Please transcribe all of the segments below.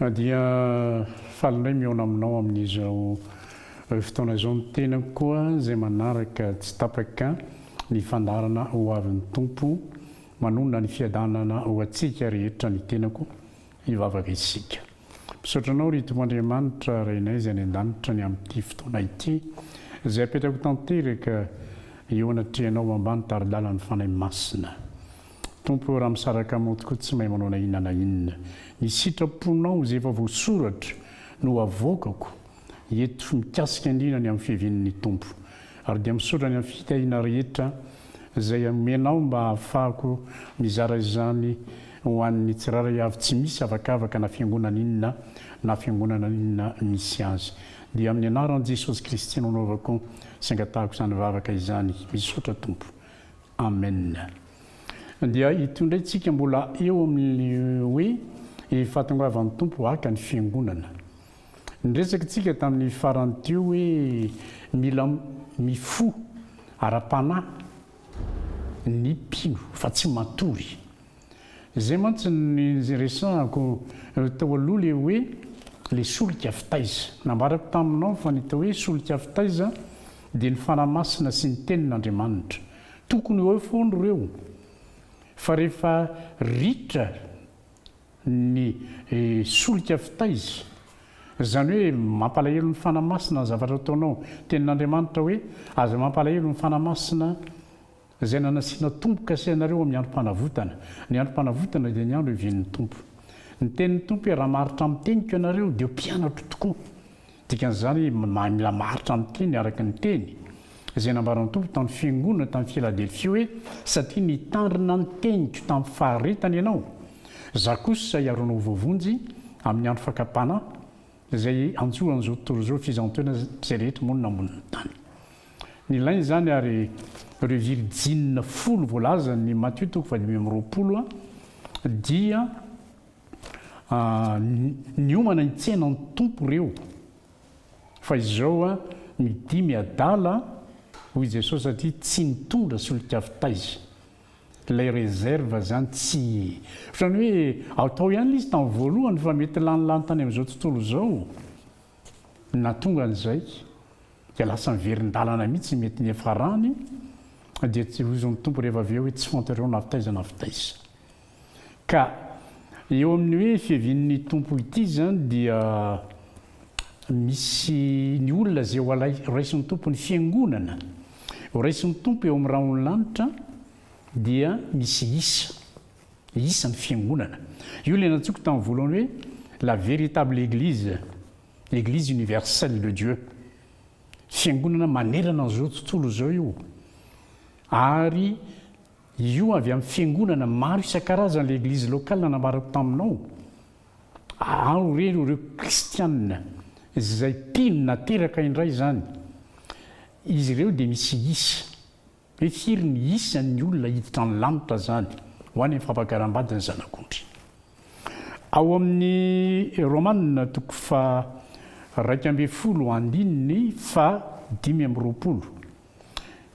Na dia faly indray mihaona aminao amin'izao fotoana izao ny tenako koa izay manaraka tsy tapaka ny fandaharana ho avin'ny Tompo manonona ny fiadanana ho antsika rehetra ny tenako hivavaka isika. Misaotra anao ry Tompo Andriamanitra Rainay izay any an-danitra ny amin'ity fotoana ity izay apetrako tanteraka eo anatrehanao ambany tari-dalan'ny Fanahy Masina. Tompo o, raha misaraka mody koa tsy mahay manao na inona na inona. Ny sitraponao izay efa voasoratra no avoakako eto mikasika indrindra ny amin'ny fiaviany ny Tompo. Ary dia misaotra ny amin'ny fitahiana rehetra izay omenao mba hahafahako mizara izany ho an'ny tsirairay avy tsy misy avakavaka na fiangonana inona na fiangonana inona misy azy. Dia amin'ny anaran'i Jesosy Kristy no anaovako sy angatahako izany vavaka izany. Misaotra Tompo. Amen. Dia ito indray tsika mbola eo amin'ny hoe ny fahatongavan'ny Tompo haka ny fiangonana. Niresaka tsika tamin'ny farany teo hoe mila mifoha ara-panahy ny mpino fa tsy matory. Zay mantsy niresahako tao aloha le hoe le solika fitaiza. Nambarako taminao fa ny atao hoe solika fitaiza dia ny fanahy masina sy ny tenin'Andriamanitra. Tokony ho eo foana ireo fa rehefa ritra ny solika fitaiza, zany hoe mampalahelo ny fanahy masina ny zavatra ataonao, tenin'Andriamanitra hoe aza mampalahelo ny fanahy masina, Izay nanasiana Tompo kasainareo amin'ny androm-panavotana. Ny androm-panavotana dia ny andro ivian'ny Tompo. Ny tenin'ny Tompo hoe, Raha maharitra amin'ny teniko ianareo, dia ho mpianatro tokoa. Dikan'izany hoe, mila maharitra amin'ny teny araka ny teny. Izay nambaran'ny Tompo tamin'ny fiangonana tany Filadelfia hoe, Satria nitandrina ny teniko tamin'ny faharetana ianao, Izaho kosa hiaronao ho voavonjy amin'ny andro fakam-panahy, izay hanjo an'izao tontolo izao fizaham-peo izay rehetra monina ambonin'ny tany. Nilaina izany ary ireo virjinina folo voalazan'i Matio toko faha dimy amby roapolo dia niomana hitsena ny Tompo ireo fa izao midia miadala hoy Jesosy satria tsy nitondra solika fitaiza. Ilay reserve izany tsy ohatran'ny hoe atao ihany ilay izy tamin'ny voalohany fa mety lanilany tany amin'izao tontolo izao no nahatonga an'izay. Dia lasa miverin-dalana mihitsy mety niafarany dia tsy hozon'ny Tompo rehefa avy eo hoe tsy fantareo na avy taiza na avy taiza. Ka eo amin'ny hoe fiavian'ny Tompo ity zany dia misy ny olona izay ho raisin'ny Tompo ny fiangonana ho raisin'ny Tompo eo amin'ny rahon'ny lanitra dia misy isa isa ny fiangonana io ilay nantsoiko tamin'ny voalohany hoe la véritable église L'Eglise universelle de Dieu, fiangonana manerana an'izao tontolo izao io, ary io avy amin'ny fiangonana maro isan-karazany ilay Eglise locale nambarako taminao, ao re ireo kristianina izay mpino nateraka indray izany, izy ireo dia misy isa. Hoe firy ny isan'ny olona hiditra any lanitra izany ho any amin'ny fampakaram-bady ny Zanak'ondry? Ao amin'ny Romana toko faha-iraika ambin'ny folo andininy fahadimy amby roapolo,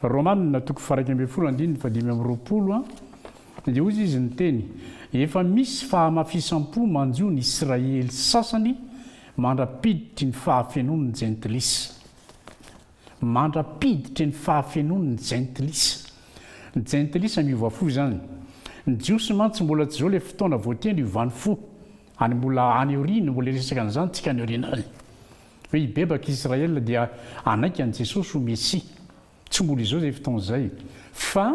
Romana toko faha-iraika ambin'ny folo andininy fahadimy amby roapolo, dia hoy izy niteny, Efa misy fahamafisam-po manjo ny Israely sasany mandra-piditry ny fahafenoan'ny Jentilisa. Mandra-piditry ny fahafenoany ny Jentilisa. Ny Jentilisa miova fo izany. Ny Jiosy mantsy mbola tsy izao ilay fotoana voateny hiovany fo. Any mbola any aoriana, mbola hiresaka an'izany isika any aoriana any. Hoe hibebaka Israel dia hanaiky an'i Jesosy ho Mesia. Tsy mbola izao izay fotoana izay. Fa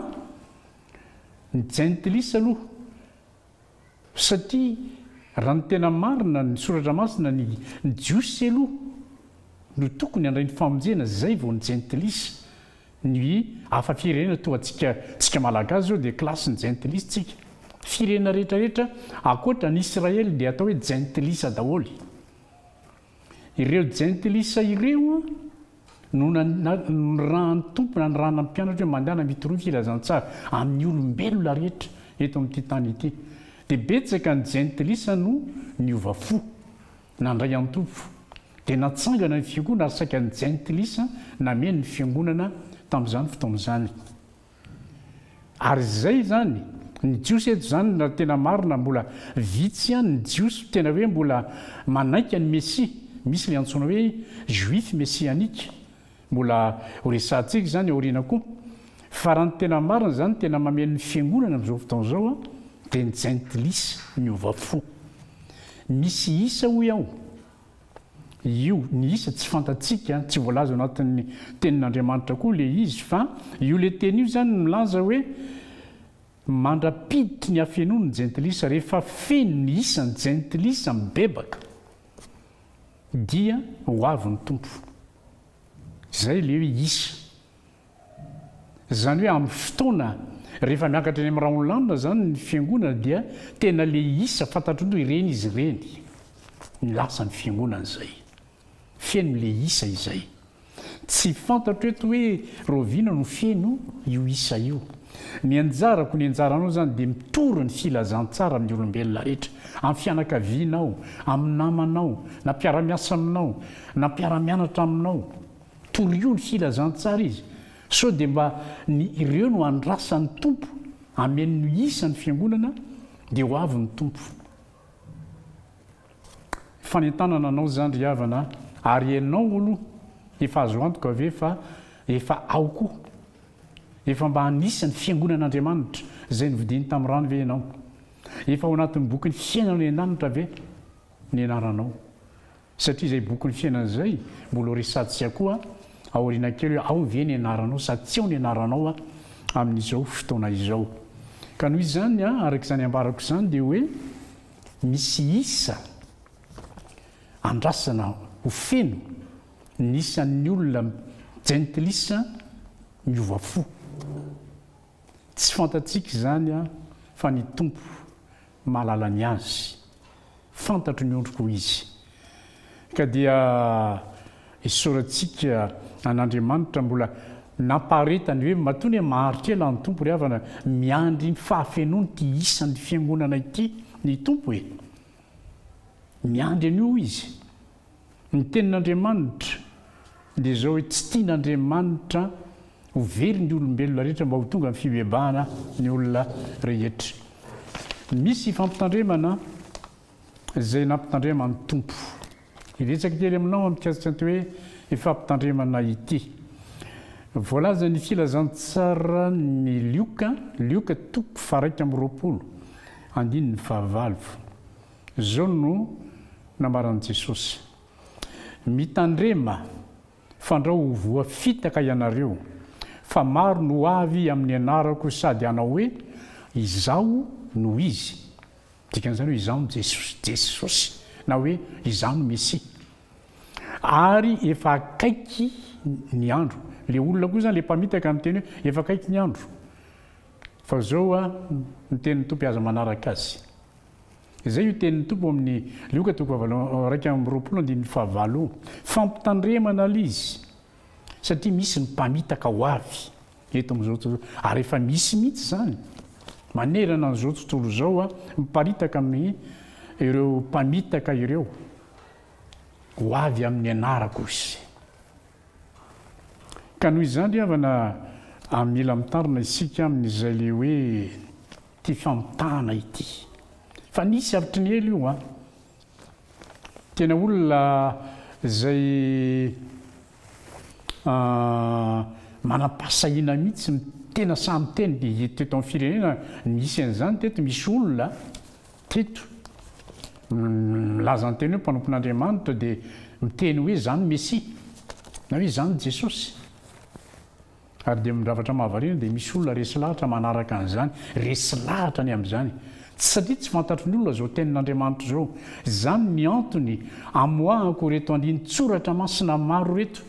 ny Jentilisa aloha Satria raha ny tena marina ny soratra masina ny ny jiosy aloha no tokony handray ny famonjena zay vao ny jentilisa, ny hafa firenena toa antsika tsika malagasy zao dia classe ny jentilisa tsika, firenena rehetra rehetra akoatra ny Israely dia atao hoe jentilisa daholo. Ireo jentilisa ireo no nanirahan'ny Tompo nanirahana ny mpianatra hoe mandehana mitoroy ny filazantsara amin'ny olombelona rehetra eto amin'ity tany ity. Dia betsaka ny jentilisa no niova fo, nandray an'ny Tompo. Dia natsangana ny fiangonana ary saika ny jentilisa nameno ny fiangonana tamin'izany fotoana izany. Ary izay izany, ny Jiosy eto izany raha tena marina mbola vitsy ihany ny Jiosy tena hoe mbola manaiky an'i Mesia, misy ilay antsoina hoe Juifs messianiques, mbola ho resahantsika izany aoriana koa. Fa raha ny tena marina izany tena mameno ny fiangonana amin'izao fotoana izao dia ny jentilisa miova fo. Misy isa hoy aho. Io, ny isa tsy fantatsika, tsy voalaza ao anatin'ny tenin'Andriamanitra koa ilay izy, fa io ilay teny io zany milaza hoe mandra-piditry ny hafenoany ny jentilisa, rehefa feno ny isan'ny jentilisa mibebaka dia ho avy ny Tompo. Izay ilay hoe isa. Izany hoe amin'ny fotoana rehefa miakatra eny amin'ny rahon'ny lanona izany ny fiangonana dia tena le isa fantatro nto ireny izy ireny ny lasa ny fiangonana izay feno le isa izay tsy fantatro eto hoe roviana no feno io isa io ny anjarako ny anjaranao izany dia mitory ny filazantsara amin'ny olombelona rehetra amin'ny fianakavianao amin'ny namanao na mpiaramiasa aminao na mpiaramianatra aminao Torio ny filazantsara izy, sao dia mba ny ireo no andrasan'ny Tompo ameno ny isa ny fiangonana dia ho avy ny Tompo. Fanentanana anao izany ry havana a! Ary ianao aloha efa azo antoka ve fa efa ao koa? Efa mba anisa ny fiangonan'Andriamanitra izay novidiany tamin'ny rany ve ianao? Efa ao anatin'ny bokin'ny fiainan'ny an-danitra ve ny anaranao? Satria izay bokin'ny fiainana izay mbola ho resadntsika koa aoriana kely hoe ao ve ny anaranao sa tsy ao ny anaranao amin'izao fotoana izao. Ka noho izany araka izany ambarako izany dia hoe misy isa andrasana ho feno ny isan'ny olona jentilisa miova fo. Tsy fantatsika izany fa ny Tompo mahalala ny azy. Fantatro ny ondriko, hoy izy. Ka dia isaorantsika an'Andriamanitra mbola nampaharetany hoe matoa ny maharitra ela ny Tompo ry havana, miandry ny fahafenoany ity isan'ny fiangonana ity ny Tompo e! Miandry an'io izy. Ny tenin'Andriamanitra dia izao hoe tsy tian'Andriamanitra ho very ny olombelona rehetra mba ho tonga amin'ny fibebahana ny olona rehetra. Misy fampitandremana izay nampitandrema ny Tompo. Hiresaka kely aminao aho mikasika an'ity hoe fampitandremana ity. Voalaza ny filazantsaran'i Lioka, Lioka toko faharaika amby roapolo, andininy fahavalo. Izao no nambaran'i Jesosy, Mitandrema, fandrao ho voafitaka ianareo, fa maro no ho avy amin'ny anarako sady hanao hoe, Izaho no izy. Dikan'izany hoe Izaho no Jesosy, Jesosy, na hoe Izaho no Mesia. Ary efa akaiky ny andro. Ilay olona koa izany, ilay mpamitaka, miteny hoe, Efa akaiky ny andro. Fa izao ny tenin'ny Tompo, aza manaraka azy. Izay io tenin'ny Tompo amin'ny Lioka toko fahavalo iraika amby roapolo andininy fahavalo io. Fampitandremana ilay izy satria misy ny mpamitaka ho avy eto amin'izao tontolo ary efa misy mihitsy izany manerana an'izao tontolo izao miparitaka amin'ny ireo mpamitaka ireo ho avy amin'ny anarako izy. Ka noho izany ry havana a mila mitarina isika amin'izay le hoe ity famitahana ity fa nisy avitry ny ela io a! Tena olona izay a manam-pahasahiana mihitsy no tena sahy miteny dia eto amin'ny firenena nisy an'izany teto misy olona Tito, milaza ny teny hoe mpanompon'Andriamanitra dia miteny hoe izany Mesia, na hoe izany Jesosy. Ary dia zavatra mahavariana dia misy olona resy lahatra manaraka an'izany, resy lahatra ny amin'izany. Tsy satria tsy fantatry ny olona izao tenin'Andriamanitra izao. Izany ny antony amoahako ireto andinin-tsoratra masina maro ireto,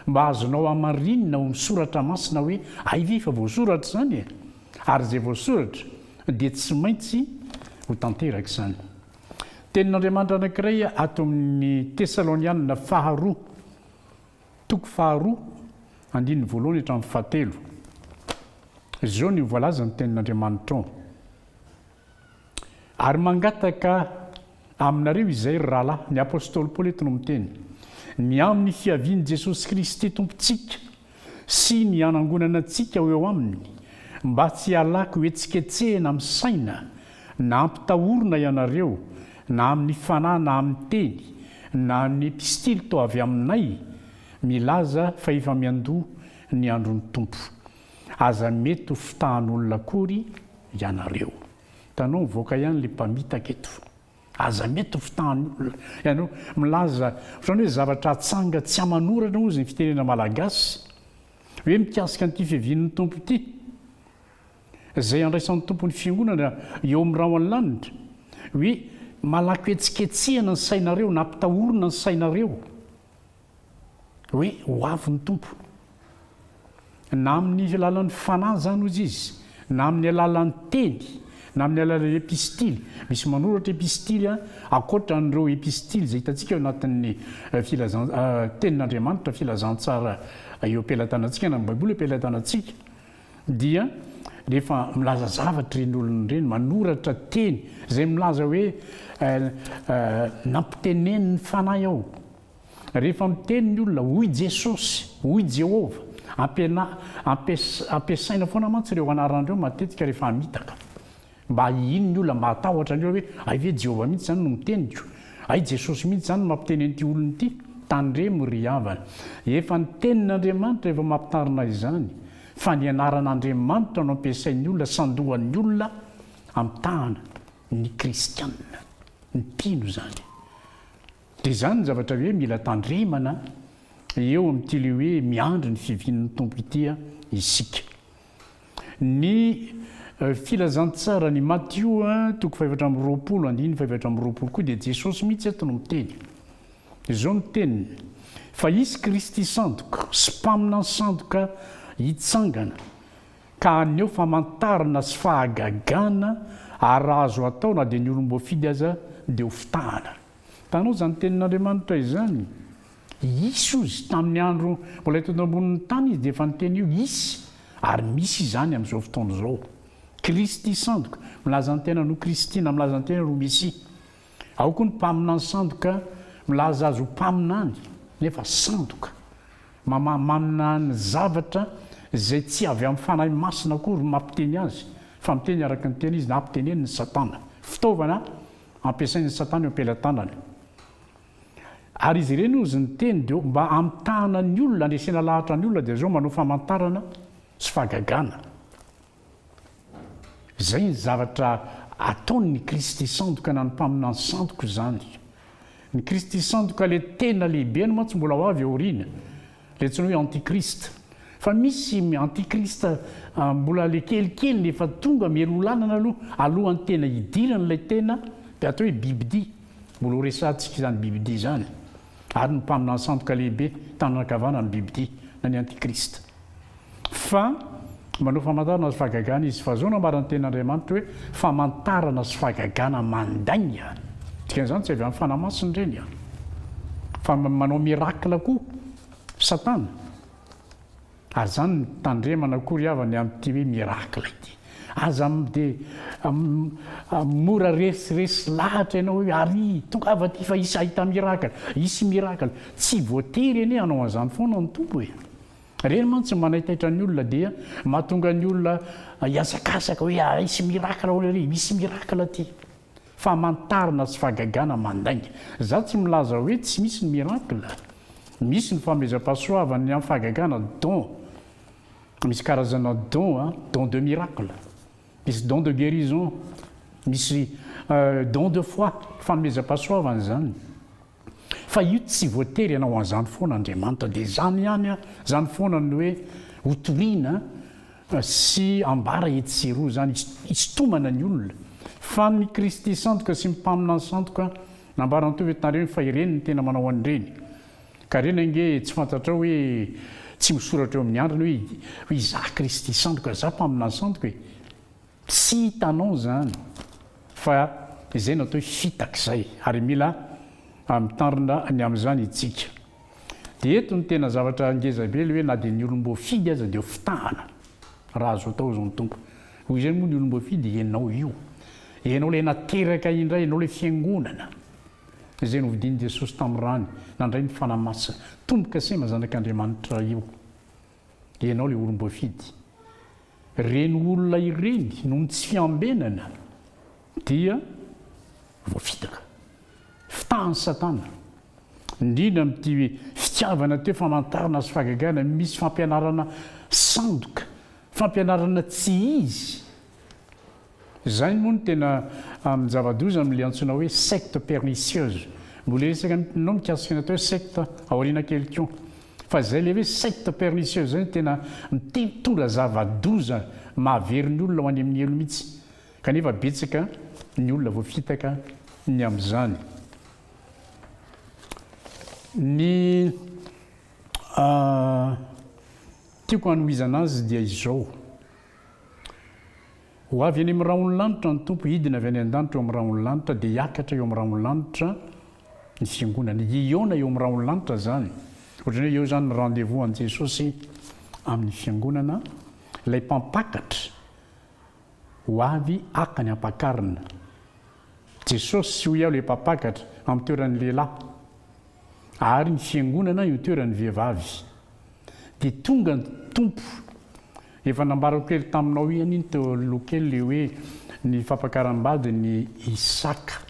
mba azonao hamarinina ao amin'ny soratra masina hoe aiza efa voasoratra izany e! Ary izay voasoratra dia tsy maintsy ho tanteraka izany. Tenin'Andriamanitra anankiray ato amin'ny Tesalonianina faharoa, toko faharoa, andininy voalohany hatramin'ny fahatelo. Izao no voalazan'ny Tenin'Andriamanitra ao. Ary mangataka aminareo izay, ry rahalahy, ny apostoly Paoly eto no miteny, ny amin'ny fiavian'i Jesosy Kristy Tompontsika sy ny hanangonana antsika ho eo aminy, mba tsy halaky hohetsiketsehina amin'ny saina na hampitahorina ianareo na amin'ny fanahy na amin'ny teny na amin'ny epistily toa avy aminay milaza fa efa miandoha ny andron'ny Tompo. Aza mety ho fitahan'olona akory ianareo. Hitanao mivoaka ihany le mpamitaka eto. Aza mety ho fitahan'olona ianareo. Milaza ohatran'ny hoe zavatra atsanga tsy aman'orana hozy ny fitenena malagasy. Hoe mikasika an'ity fiavian'ny Tompo ity. Izay handraisan'ny Tompo ny fiangonana eo amin'ny ra ao an-lanitra. Hoe malako hetsiketsehana ny sainareo, nampitahorina ny sainareo. Hoe ho avy ny Tompo. Na amin'ny alalan'ny Fanahy izany hoy izy, na amin'ny alalan'ny teny, na amin'ny alalan'ny epistily. Misy manoratra epistily ankoatra an'ireo epistily izay hitantsika ao anatin'ny filazan Tenin'Andriamanitra, Filazantsara eo am-pelatanantsika, na ny Baiboly eo am-pelatanantsika, dia rehefa milaza zavatra ireny olona ireny, manoratra teny izay milaza hoe nampitenenin'ny Fanahy aho. Rehefa miteny ny olona, hoy Jesosy, hoy Jehovah, ampianah, ampiasaina foana mantsy ireo anarana ireo matetika rehefa hamitaka. Mba hihino ny olona, mba hatahotra ny olona hoe, hay ve Jehovah mihitsy izany no miteniko? Hay Jesosy mihitsy izany no mampiteny an'ity olona ity? Tandremo ry havana, efa ny Tenin'Andriamanitra efa mampitarina izany, fa ny anaran'Andriamanitra no ampiasain'ny olona sandohan'ny olona hamitahana ny kristiana. Mpino izany. Dia izany ny zavatra hoe mila tandremana eo amin'ity ilay hoe miandry ny fivian'ny Tompo ity isika. Ny filazantsaran'i Matio toko fahefatra amby roapolo andininy fahefatra amby roapolo koa dia Jesosy mihitsy eto no miteny. Izao ny teniny, Fa hisy Kristy sandoka sy mpaminany sandoka hitsangana, ka haneho famantarana sy fahagagana, ary raha azo atao na dia ny olom-boafidy aza dia hofitahana. Tanoa izany tenin'Andriamanitra izany. Hisy hoy Izy. Tamin'ny andro mbola teto ambonin'ny tany Izy dia efa niteny io. Hisy, ary misy izany amin'izao fotoana izao. Kristy sandoka, milaza ny tenany ho Kristina, milaza ny tenany ho Mesia. Ao koa ny mpaminany sandoka, milaza azy ho mpaminany, nefa sandoka. Mamaha maminany zavatra izay tsy avy amin'ny Fanahy Masina akory no mampiteny azy, fa miteny araka ny tena izy na ampiteneniny Satana. Fitaovana. ampiasain'i Satana eo am-pelatanany. Ary izy ireny hozy ny teny dia mba hamitahana ny olona, handresena lahatra ny olona dia zao manao famantarana sy fahagagana. Izay ny zavatra ataony ny Kristy sandoka na ny mpaminany sandoka izany. Ny Kristy sandoka ilay tena lehibe no mantsy mbola ho avy aoriana. Le tsy hoe antichrist fa misy antichrist mbola le kelikely le efa tonga miery olanana aloha alohan'ny tena hidirany ilay tena de atao hoe bibidia mbola ho resahantsika izany bibidia izany ary ny mpaminany sandoka lehibe tanana ankavanana bibidia na ny antichrist Fa manao famantarana sy fahagagana izy, fa izao no hamaran'ny tenin'Andriamanitra hoe, famantarana sy fahagagana mandainga. Dikan'izany tsy avy amin'ny fanahy masina ireny an, fa manao miracle koa Satana. Ary izany no tandremana akory havany amin'ity hoe miracle ity. Aza dia mora resiresy lahatra ianao hoe ary tongava aty fa hisy hahita miracle, hisy miracle. Tsy voatery anie hanao an'izany foana ny Tompo e. Ireny mantsy no manaitaitra ny olona dia mahatonga ny olona hihazakazaka hoe haharesy miracle ahoana ery, misy miracle aty. Famantarana sy fahagagana mandainga. Izaho tsy milaza hoe tsy misy ny miracle. Misy ny fanomezam-pahasoavana, ny amin'ny fahagagana, don. Misy karazana don, don de miracle, misy don de guérison, misy don de foi, fanomezam-pahasoavana izany. Fa io tsy voatery hanao an'izany foana Andriamanitra. Dia izany ihany an, izany foana ny hoe hotorina sy ambara etsy sy eroa izany, hisintomana ny olona. Fa ny Kristy sandoka sy ny mpaminany sandoka, nambaran'i Tovo eto nareo, fa ireny no tena manao an'ireny. Ka ireny ange tsy fantatrao hoe tsy misoratra eo amin'ny andriny hoe izaho Kristy sandoka, izaho mpaminany sandoka e. Tsy hitanao izany fa izay no atao hoe fitaka izay ary mila mitandrina ny amin'izany itsika. Dia eto no tena zavatra ngeza be ilay hoe na dia ny olom-boafidy aza dia fitahana raha azo atao izany Tompo. Hoy izay moa ny olom-boafidy ianao io. Ianao ilay nateraka indray, ianao ilay fiangonana izay novidian'i Jesosy tamin'ny rany nandray ny Fanahy Masina. Tombo-kasema zanak'Andriamanitra io. Ianao le olomboafidy. Ireny olona ireny noho ny tsy fiambenana dia voafitaka. Fitahan'i Satana. Indrindra amin'ity fitiavana teo famantarana sy fagagana misy fampianarana sandoka, fampianarana tsy izy Izay moa no tena amin'ny zava-doza amin'ilay antsoina hoe secte pernicieuse. Mbola hiresaka aminao mikasika ny atao hoe secte aoriana kely koa. Fa izay ilay hoe secte pernicieuse izay no tena mitondra zava-doza mahavery ny olona ho any amin'ny helo mihitsy. Kanefa betsaka ny olona voafitaka ny amin'izany. Ny tiako hanohizana azy dia izao. Ho avy eny amin'ny rahon'ny lanitra ny Tompo, hidina avy any an-danitra eo amin'ny rahon'ny lanitra, dia hiakatra eo amin'ny rahon'ny lanitra ny Fiangonany. Hihaona eo amin'ny rahon'ny lanitra izany. Ohatran'ny hoe eo izany ny rendez-vous an'i Jesosy amin'ny Fiangonana, ilay Mpampakatra ho avy haka ny ampakarina. Jesosy, hoy aho, ilay mpampakatra, amin'ny toeran'ny lehilahy, ary ny Fiangonana eo toeran'ny vehivavy. Dia tonga ny Tompo. Efa nambarako kely taminao ihany iny teo aloha kely ilay hoe ny fampakaram-badin'i Isaka,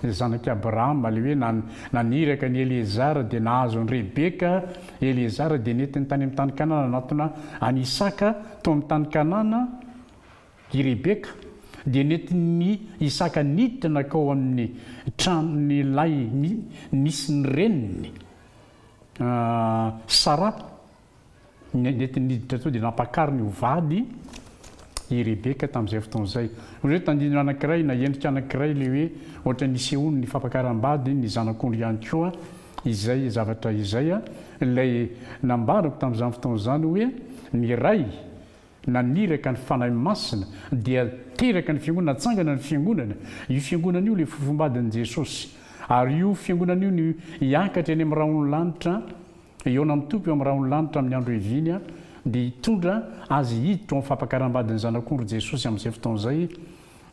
ilay zanak'i Abrahama, ilay hoe naniraka an'i Eliezara dia nahazo an'i Rebeka, Eliezara dia nentiny tany amin'ny tany Kanana nanatona an'i Isaka tao amin'ny tany Kanana, I Rebeka dia nentin'i Isaka niditra nankao amin'ny tranon'ilay nisy ny reniny, Sara. Nentiny niditra tao dia nampakariny ho vady i Rebeka tamin'izay fotoana izay. Hoy izy hoe, Tandindona anankiray na endrika anankiray ilay hoe ohatra ny nisehoan'ny fampakaram-bady ny zanak'ondry ihany koa izay zavatra izay. Ilay nambarako tamin'izany fotoana izany hoe ny ray naniraka ny Fanahy Masina dia teraka ny Fiangonana, natsangana ny Fiangonana, io Fiangonana io ilay fofom-badin'i Jesosy, ary io Fiangonana io no hiakatra eny amin'ny rahon'ny lanitra, hihaona amin'ny Tompo eo amin'ny rahon'ny lanitra amin'ny andro ihaviany, dia hitondra Azy hiditra ao amin'ny fampakaram-badin'ny Zanak'ondry Jesosy amin'izay fotoana izay,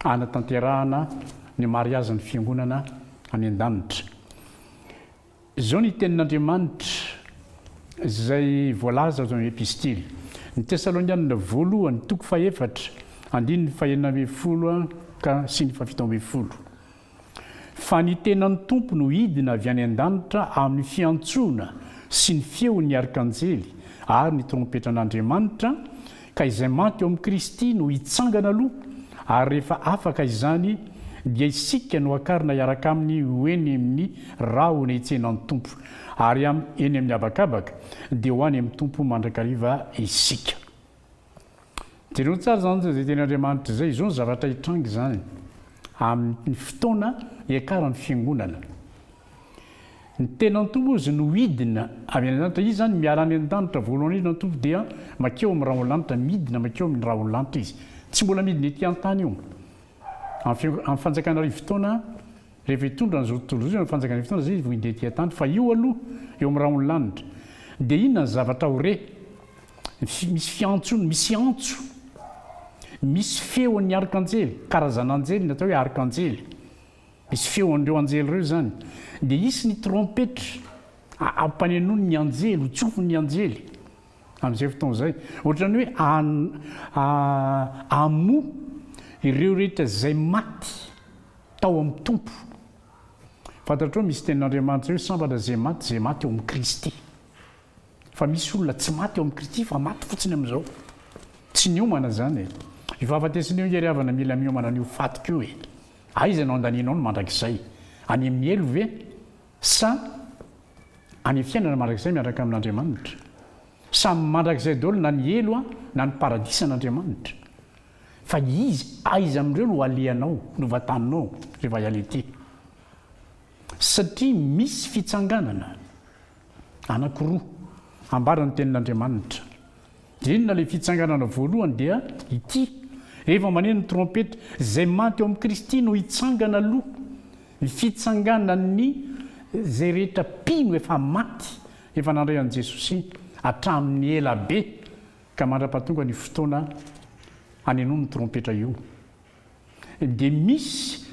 hanatanterahana ny mariazin'ny Fiangonana any an-danitra. Izao ny tenin'Andriamanitra izay voalaza ato amin'ny Epistily ny Tesalonianina voalohany toko fahefatra andininy fahenina ambin'ny folo ka sy ny fahafito ambin'ny folo, Fa ny tenan'ny Tompo no hidina avy any an-danitra amin'ny fiantsoana sy ny feon'ny arkanjely ary ny trompetran'Andriamanitra, Ka izay maty ao amin'i Kristy no hitsangana aloha, ary rehefa afaka izany, dia isika no hakarina hiaraka aminy ho eny amin'ny rahona hitsenan'ny Tompo, ary amin'ny eny amin'ny habakabaka, dia ho any amin'ny Tompo mandrakariva isika. Jereo tsara izany izay teny Andriamanitra izay, izao ny zavatra hitranga izany amin'ny fotoana hiakaran'ny fiangonana. Ny tenan'Tompo moa izy no hidina avy any an-danitra. Izy izany miala any an-danitra voalohany indrindra ny Tompo dia mankeo amin'ny rahon-lanitra, midina mankeo amin'ny rahon-lanitra Izy. Tsy mbola midina ety an-tany io. Amin'ny fanjakana arivo taona, rehefa hitondra an'izao tontolo izao Izy amin'ny fanjakana arivo taona izay Izy vao hidina ety an-tany. Fa io aloha eo amin'ny rahon-lanitra. Dia inona ny zavatra ho re? Misy fiantsony, misy antso, misy feon'ny arkanjely, karazan'anjely, ny atao hoe arkanjely. Misy feo an'ireo anjely ireo izany. Dia hisy ny trompetra, ampanenoin'ny anjely, hotsofin'ny anjely amin'izay fotoana izay. Ohatran'ny hoe hamoha ireo rehetra izay maty tao amin'ny Tompo. Fantatrao, misy tenin'Andriamanitra hoe sambatra izay maty, izay maty ao amin'i Kristy. Fa misy olona tsy maty ao amin'i Kristy fa maty fotsiny amin'izao. Tsy niomana izany e. Io fahafatesana io, Hery havana, mila miomana an'io fatoka io e. Aiza no andanianao ny mandrakizay? Any amin'ny helo ve? Sa any fiainana mandrakizay miaraka amin'Andriamanitra? Samy mandrakizay daholo na ny helo an, na ny paradisa an'Andriamanitra. Fa izy aiza amin'ireo no alehanao, no vataninao rehefa hiala ety? Satria misy fitsanganana. anankiroa ambara ny tenin'Andriamanitra. Dia inona ilay fitsanganana voalohany? Dia ity, rehefa maneno ny trompeta, izay maty ao amin'i Kristy no hitsangana aloha. Ny fitsanganan'ny izay rehetra mpino efa maty, efa nandray an'i Jesosy hatramin'ny ela be, ka mandrapatonga ny fotoana hanenoany ny trompetra io. Dia misy,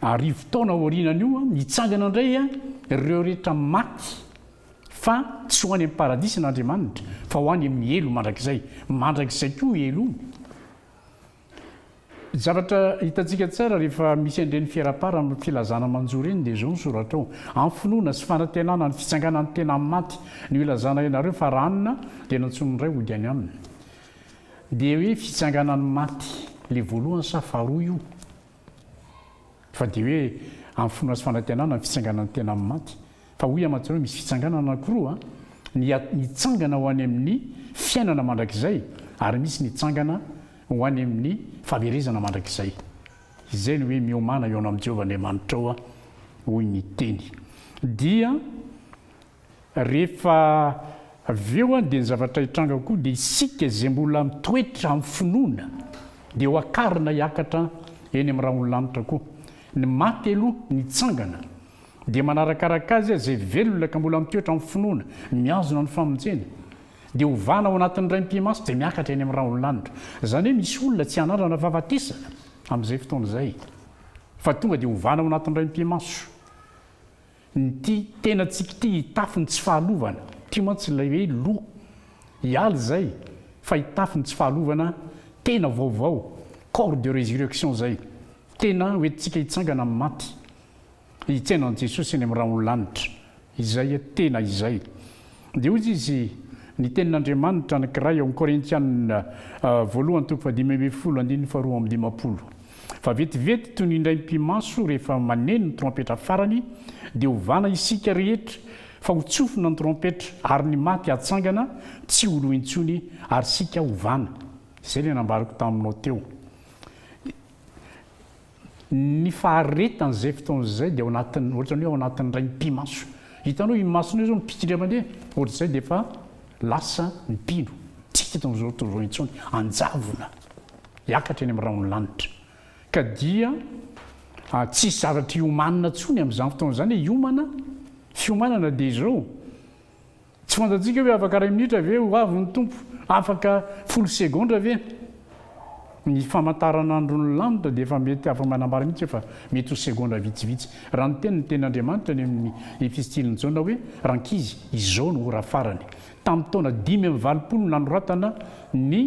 arivo taona aorianan'io, mitsangana indray ireo rehetra maty, fa tsy ho any amin'ny paradisa an'Andriamanitra, fa ho any amin'ny helo mandrakizay. Mandrakizay koa io helo io. Zavatra hitantsika tsara rehefa misy an'ireny fiera-para amin'ny filazana manjo ireny dia izao ny soratra ao, Amin'ny finoana sy fanantenana ny fitsanganan'ny tena amin'ny maty no ilazana ianareo fa ranona dia nantsoin'ny Ray hody any aminy. Dia hoe fitsanganan'ny maty le voalohany sa faharoa io? Fa dia hoe amin'ny finoana sy fanantenana ny fitsanganan'ny tena amin'ny maty. Fa hoy aman-tsara hoe misy fitsanganana anankiroa, ny mitsangana ho any amin'ny fiainana mandrakizay ary misy mitsangana ho any amin'ny fahaverezana mandrakizay. Izay no hoe miomàna eo anao amin'i Jehovah Andriamanitrao hoy ny teny. Dia. Rehefa avy eo an, dia ny zavatra hitranga koa dia isika izay mbola mitoetra amin'ny finoana dia ho akarina hiakatra eny amin'ny rahon'ny lanitra koa. Ny maty aloha nitsangana dia manarakaraka azy izay velona ka mbola mitoetra amin'ny finoana, mihazona ny famonjena, dia hovana ao anatin'ny Ray Mpimasy dia miakatra eny amin'ny rahon'ny lanitra. Izany hoe misy olona tsy hanandrana fahafatesana amin'izay fotoana izay fa tonga dia hovana ao anatin'ny Ray Mpimaso. Nty tena tsy kty hitafy ny tsy fahalovana ty mantsy ilay hoe lo hialy izay fa hitafy ny tsy fahalovana tena vaovao corps de resurrection izay tena ho entintsika hitsangana amin'ny maty hitsaina an'i Jesosy eny amin'ny rahon'ny lanitra izay tena izay Dia hoy izy, Ny tenin'Andriamanitra anankiray ao amin'ny Korintianina voalohany toko fahadimy ambin'ny folo andininy faharoa amby dimampolo, Fa vetivety toy ny indraim-pimaso rehefa maneno ny trompetra farany, dia hovana isika rehetra, fa ho tsofina ny trompetra, ary ny maty hatsangana tsy ho lo intsony, ary isika hovana. Izay ilay nambarako taminao teo. Ny faharetany izay fotoana izay dia ao anatin'ny ohatran'ny hoe ao anatin'ny rainy pi-maso. Hitanao io masonao izao mipitsika mandeha ohatr'izay dia efa lasa ny mpino. Tsy hita eto amin'izao tontolo izao intsony. Hanjavona. Hiakatra eny amin'ny rahon'ny lanitra. Ka dia tsy hisy zavatra hiomanina intsony amin'izany fotoana izany. Hiomana, fiomanana dia izao. Tsy fantatsika hoe afaka iray minitra ve ho avy ny Tompo? Afaka folo segondra ve? Ny famantaranandron'ny lanitra dia efa mety afa-manambara mihitsy fa mety ho segondra vitsivitsy. Raha niteny ny Tenin'Andriamanitra any amin'ny Efistilin'i Jaona hoe, Rankizy, izao no ora farany. Tamin'ny taona dimy amby valopolo no nanoratana ny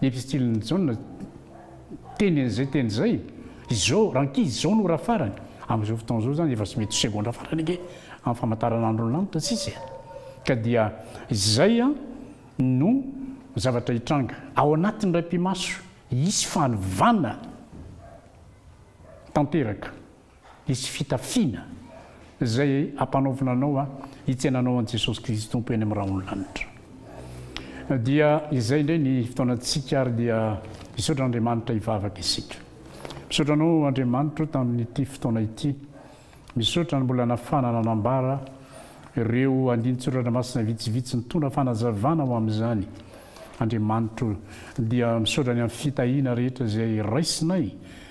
Epistilin'i Jaona teny an'izay teny izay, izao, rankizy, izao no ora farany. Amin'izao fotoana izao izany efa tsy mety ho segondra farany ange amin'ny famantaranandron'ny lanitra tsisy e! Ka dia izay no zavatra hitranga. Ao anatin'ny iray mpimaso, hisy fanovana tanteraka. Hisy fitafiana izay hampanaovina anao hitsena anao an'i Jesosy Kristy Tompo eny amin'ny rahon'ny lanitra. Dia izay indray ny fotoanantsika ary dia misaotra an'Andriamanitra hivavaka isika. Misaotra anao Andriamanitra o tamin'ity fotoana ity. Misaotra ny mbola nafahana nanambara ireo andinin-tsoratra masina vitsivitsy nitondra fanazavana ho amin'izany Andriamanitra o. Dia misaotra ny amin'ny fitahiana rehetra izay raisinay